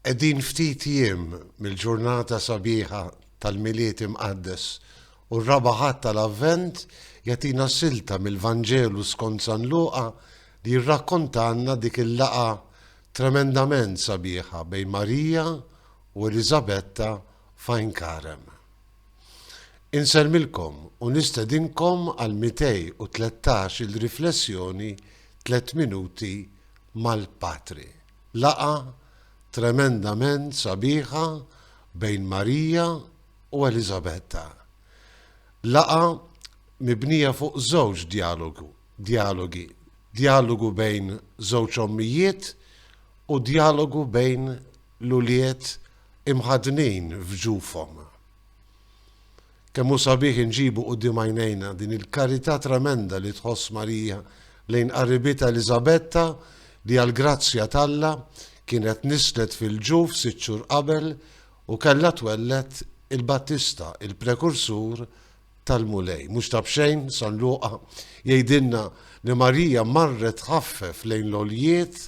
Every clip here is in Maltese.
Qegħdin ftit jiem mill-ġurnata sabiħa tal-Milied Imqaddes u r-Raba' Ħadd tal-Avvent jagħtina silta mill-Vanġelu skont San Luqa li jirrakkontalna dik il-laqgħa tremendament sabiħa bejn Marija u Eliżabetta f'Għajn Karem. Insellmilkom u nistedinkom għall-213 il-riflessjoni Tliet Minuti mal-Patri. Laqgħa tremendament sabiħa bejn Marija u Eliżabetta. Laqgħa mibnija fuq żewġ djalogu, djalogi, djalogu bejn żewġ ommijiet u djalogu bejn l-ulied imħaddnin f'ġufhom. Kemm hu sabiħ inġibu quddiem għajnejna din il-karità tremenda li tħoss Marija lejn qarribitha Eliżabetta li għall-grazzja t'Alla kienet nislet fil-ġuf sitt xhur qabel u kellha twelled il-Battista, il-prekursur tal-Mulej. Mhux ta' b'xejn San Luqa jgħidilna li Marija marret tħaffef lejn l-għoljiet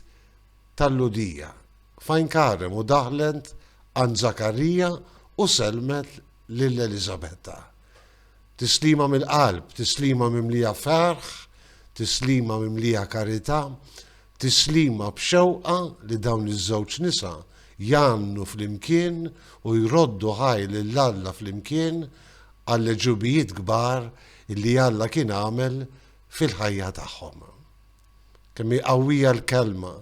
tal-Lhudija, f'għajn Karem u daħlet għand Żakarija u sellmet lil Eliżabetta. Tislima mill-qalb, tislima mimlija ferħ, tislima mimlija karità, tislima b'xewqa li dawn iż-żewġ nisa jgħannu flimkien u jroddu ħaj lil Alla flimkien għall-għeġubijiet kbar li Alla kien għamel fil-ħajja tagħhom. Kemm hi qawwija l-kelma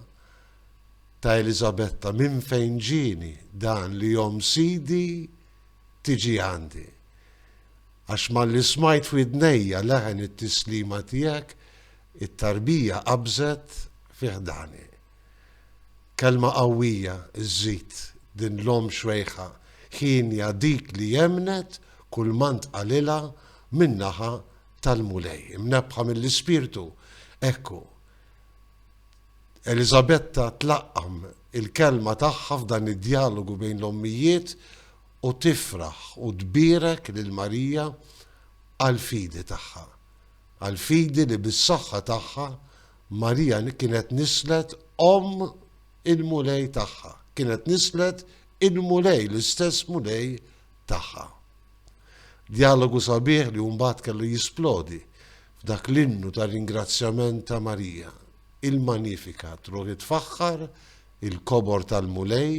ta' Eliżabetta, Minn fejn ġieni dan li omm Sidi tiġi għandi? Għax malli smajt f'widnejja leħen it-tislima tiegħek, it-tarbija qabżet fi ħdani. Kelma qawwija, żżid din l-omm xwejħa, hienja dik li emmnet kull ma ntqalilha min-naħa tal-Mulej, imnebħa mill-Ispirtu, hekk hu. Eliżabetta tlaqqam il-kelma tagħha f'dan id-djalogu bejn l-ommijiet u tifraħ u tbierek lil Marija għall-fidi tagħha. Għall-fidi li bis-saħħa tagħha Marija kienet nislet om il-Mulej tagħha, kienet nislet il-Mulej, l-istess Mulej tagħha. Djalogu sabiħ li mbagħad kellu jisplodi f'dak l-innu ta' ringrazzjament ta' Marija, il-Magnificat, ruħi tfaħħar, il-kobor tal-Mulej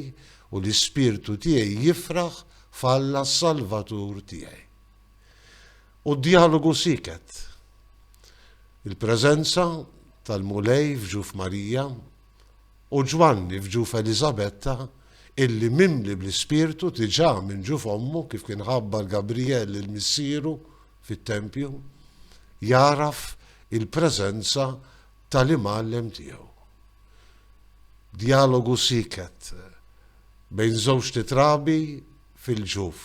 u l-ispirtu tiegħi jifraħ f'Alla s-Salvatur tiegħi. U d-djalogu siket. Il-preżenza tal-Mulej f'ġuf Marija U Ġwanni f'ġuf Eliżabetta, illi mimli bl-Ispirtu diġà minn ġuf ommu, kif kien ħabbar Gabrijel lil missieru fit-tempju, jagħraf il-preżenza ta' l-Imgħallem tiegħu. Djalogu sieket bejn żewġt itrabi fil-ġuf,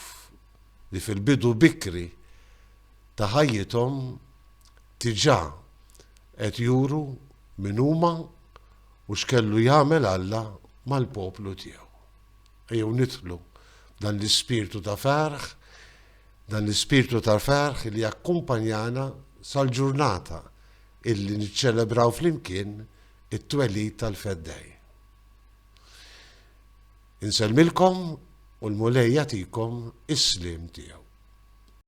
li fil-bidu bikri ta' ħajjithom diġà qed juru min huma, u x'kellu jagħmel Alla mal-poplu tiegħu. Ejjew nidħlu dan l-ispirtu ta' ferħ, dan l-ispirtu ta' ferħ li jakkumpanjana sal-ġurnata illi niċċelebraw flimkien it-twelid tal-feddej. Insellmilkom u l-Mulej jagħtikom is-slim tiegħu.